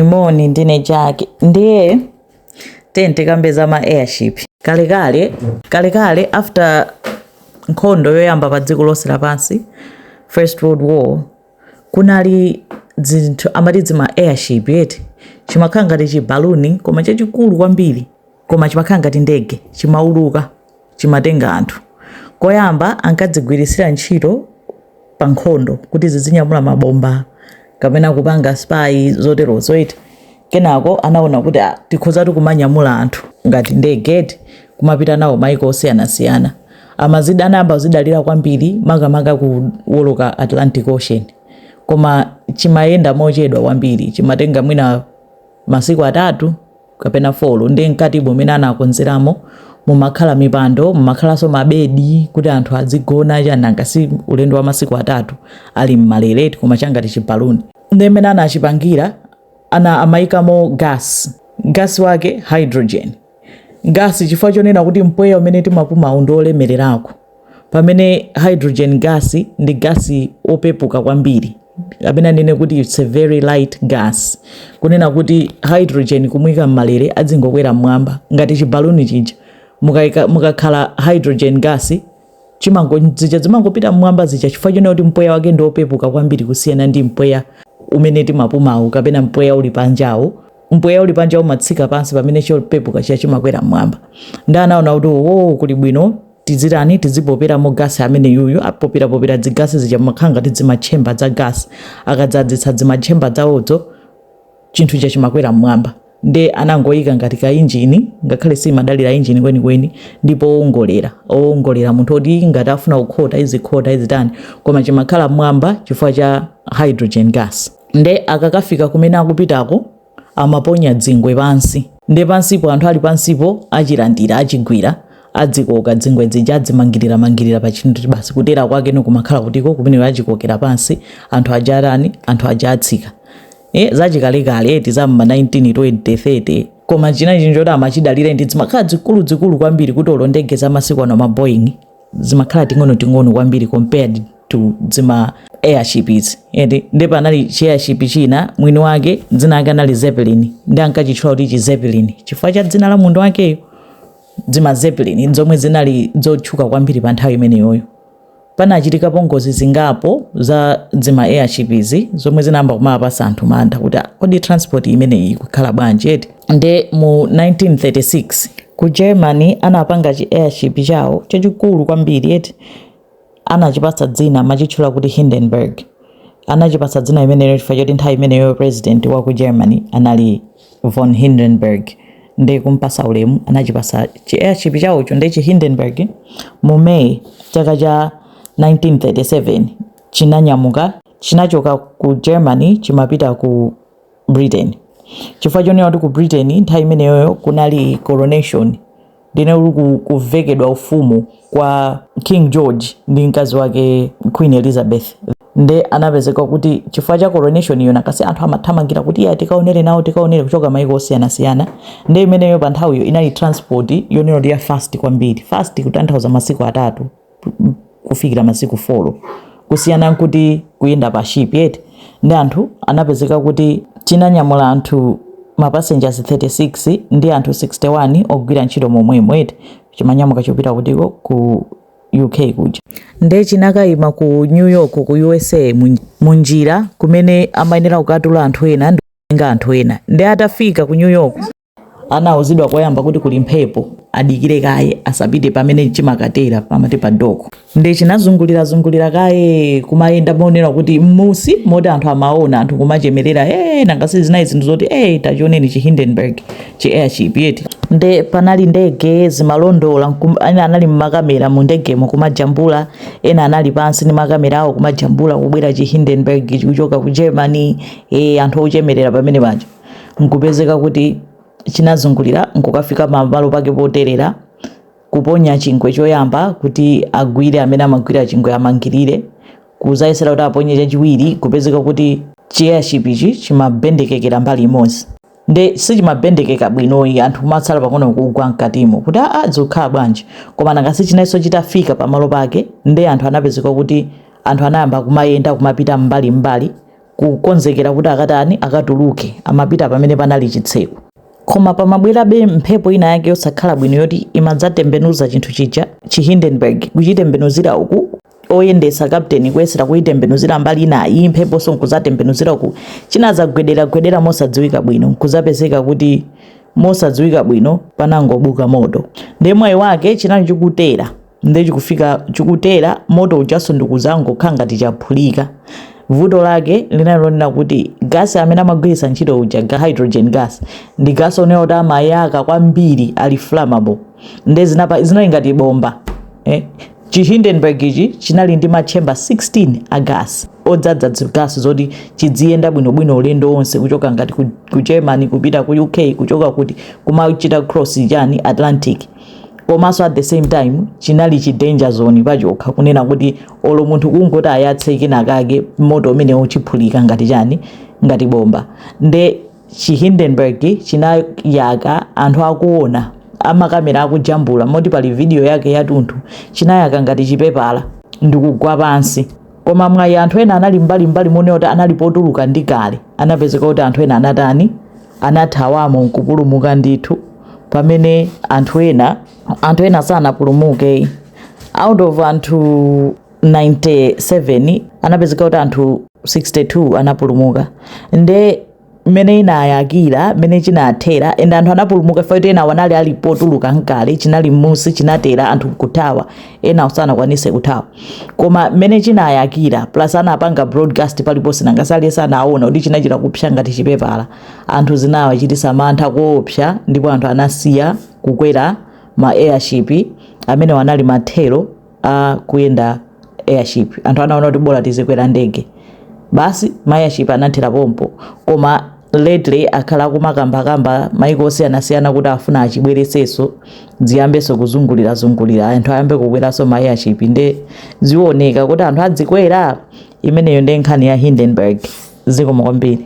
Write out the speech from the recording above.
Moni, ndine Jack. Ndiye tiyeni tikambe za ma airship. Kalekale, kalekale after nkhondo yoyamba pa dziko lonse lapansi, First World War, kunali zinthu amati dzima airship eti chimakhala ngati chibaluni koma chachikulu kwambiri koma chimakhala ngati ndege, chimauluka, chimatenga anthu. Koyamba ankadzigwiritsira ntchito pa nkhondo kuti zizinyamula mabomba kapena kupanga spy zoterozo eti. Kenako anaona kuti ah, tikhozatu kumanyamula anthu ngati ndege eti kumapita nawo maiko osiyanasiyana. Amazida, anayamba kuzidalira kwambiri makamaka kuwoloka Atlantic Ocean. Koma chimayenda mochedwa kwambiri, chimatenga mwina masiku atatu kapena four nde mkatimo umene anakonzeramo mumakhala mipando mumakhalanso mabedi kuti anthu adzigona chani nanga si ulendo wa masiku atatu ali m'malere eti koma changati chibaluni ndi mmene anachipangira ana amayikamo gas gas wake hydrogen gas chifukwa chonena kuti mpweya umene timapumawu ndi olemererako Pamene hydrogen gas ndi gas opepuka kwambiri kapena ndinene kuti it's a very light gas kunena kuti hydrogen kumuika mmalere adzingokwera mmwamba ngati chibaluni chija mukakhala hydrogen gas chimango zija zimangopita mmwamba zija chifukwa chonena kuti mpweya wake ndi opepuka kwambiri kusiyana ndi mpweya umene timapumawu kapena mpweya uli panjawu mpweya uli panja umatsika pansi pamene chopepuka chija chimakwera mmwamba nde anaona kuti owo oh, kuli bwino Tidzitani? Tidzipoperamo gasi ameneyuyu. Apoperapopera dzigasi zija mumakhala ngati dzimatchemba dza gasi. Akadzadzitsa dzimatchemba dzawozo, chinthu chija chimakwera m'mwamba. Nde anangoyika ngati kainjini, ngakhale siimadalira injini kwenikweni, ndi poongolera. Owongolera, munthu woti ngati afuna kukhota izikhota, izitani. Koma chimakhala m'mwamba chifukwa cha hydrogen gas. Nde akakafika kumene akupitako. amaponya dzingwe pansi nde pansipo anthu ali pansipo achilandira achigwira adzikoka dzingwe dzija adzimangirira mangirira pa chinthu basi kutera kwake nikumakhala kuteroko kumene achikokera pansi anthu aja arani anthu aja atsika e, zachikalekale eti za mma 1920 koma china nchoti amachidalira ndi dzimakhala dzikulu dzikulu kwambiri kuti olo ndege za masiku ano ma Boeing zimakhala ting'onoting'ono kwambiri compared to dzima airship izi eti nde panali chi airship china mwini wake dzina lake anali Zeppelin nde ankachitchula kuti chi Zeppelin chifukwa cha dzina la munthu wakeyo dzima Zeppelin zomwe zinali zotchuka kwambiri pa nthawi imeneyoyo panachitikapo ngozi zingapo za dzima airship izi zomwe zinayamba kumapatsa anthu mantha kuti "Ah, kodi transport imeneyi ikukhala bwanji eti nde mu 1936 ku germany anapanga chi airship chawo chachikulu kwambiri eti anachipatsa dzina machitchula kuti hindenburg anachipatsa dzina imeneyo chifukwa choti nthawi imeneyo president wa ku germany anali von hindenburg nde kumpasa ulemu anachipasa chi airship chawocho nde chi hindenburg mu may chaka cha 1937 chinanyamuka chinachoka ku germany chimapita ku britain chifukwa chonena kuti ku britain nthawi imeneyoyo kunali coronation ndine uli ku- kuvekedwa ufumu kwa king george ndi mkazi wake queen elizabeth nde anapezeka kuti chifukwa cha coronation iyo nanga si anthu amathamangira kuti ya tikaonere nawo tikaonere kuchoka maiko osiyanasiyana nde imeneyo pa nthawiyo inali transport yonena kuti ya fast kwambiri fast kutanthauza masiku atatu kufikira masiku folo kusiyana nkuti kuyenda pa ship eti nde anthu anapezeka kuti chinanyamula anthu mapasenjasi 36 ndi anthu 61 ogwira ntchito momwemo eti chimanyamuka chopita kutiko ku uk kuja nde chinakayima ku new york ku usa munjira kumene amayenera kukatula anthu ena ndi kutenga anthu ena nde atafika ku new york anauzidwa koyamba kuti kuli mphepo adikire kaye asapite pamene chimakatera pamati pa doko nde chinazungulira zungulira kaye kumayenda moonera kuti mmusi moti anthu amaona anthu kumachemerera e nanga si zinayi zinthu zoti e tachioneni chi hindenburg chi airship eti nde panali ndege zimalondola ena anali ni makamera mu ndegemo kumajambula ena anali pansi ni makamera awo kumajambula kubwera chi hindenburg kuchoka ku germany e anthu ochemerera pamene paja nkupezeka kuti chinazungulira nkukafika pamalo pake poterera kuponya chingwe choyamba kuti agwire amene amagwira chingwe amangirire kuzayesera kuti aponye chachiwiri kupezeka kuti chi airship chi chimabendekekera mbali imodzi nde sichimabendekeka bwinoyi anthu kumatsala pang'ono kugwa mkatimo kuti aa zikukhala bwanji koma nanga si chinaliso chitafika pamalo pake nde anthu anapezeka kuti anthu anayamba kumayenda kumapita mbali mbali kukonzekera kuti akatani akatuluke amapita pamene panali chitseko koma pamabwerabe mphepo ina yake yosakhala bwino yoti imadzatembenuza chinthu chija chi hindenburg kuchitembenuzira uku oyendesa kapteni kuyesera kuyitembenuzira mbali ina iyi mpheponso nkuzatembenuzira uku chinazagwedera gwedera mosadziwika bwino nkuzapezeka kuti mosadziwika bwino panangobuka moto nde mwayi wake chinali chikutera nde chikufika chikutera moto ujaso ndikuzangokhala ngati chaphulika vuto lake linali lonena kuti gasi amene amagwiritsa ntchito uja ga hydrogen gas ndi gasi onena kuti amayaka kwambiri ali flammable nde zinapa zinali ngati bomba eh? chi hindenburg ichi chinali ndi matchemba 16 a gasi odzadza zigasi zoti chidziyenda bwinobwino ulendo wonse kuchoka ngati ku, ku germany kupita ku uk kuchoka kuti kumachita cross chani atlantic komanso at the same time chinali chi danger zone pachokha kunena kuti olo munthu kungoti ayatse kenakake moti umene uchiphulika ngati chani ngati bomba nde chi Hindenburg chinayaka anthu akuona amakamera akujambula moti pali video yake yatunthu chinayaka ngati chipepala ndikugwa pansi koma mwayi anthu ena anali mbali mbali monena kuti anali potuluka ndi kale anapezeka kuti anthu ena anatani anathawamo nkupulumuka ndithu pamene anthu ena anthu ena sanapulumuke out of anthu 97 anapezeka kuti anthu 62 anapulumuka nde mmene inayakira mmene chinathera and anthu anapulumuka chifukwa choti enawo anali ali potuluka nkale chinali m'munsi chinatera anthu nkuthawa enawo sanakwanise kuthawa koma mmene chinayakira plus anapanga broadcast paliponse nanga sali sanaona kuti chinachita kupsa ngati chipepala anthu zinawachitisa mantha koopsa ndipo anthu anasiya kukwera ma airship amenewo anali mathero a kuyenda airship anthu anaona kuti bola tizikwera ndege basi ma airship anathera pompo koma lately akhala akumakambakamba maiko osiyanasiyana kuti afuna achibwereseso ziyambeso kuzungulira zungulira anthu ayambe kukweraso ma airship nde zioneka kuti anthu adzikwera imeneyo ndi nkhani ya hindenburg zikomo kwambiri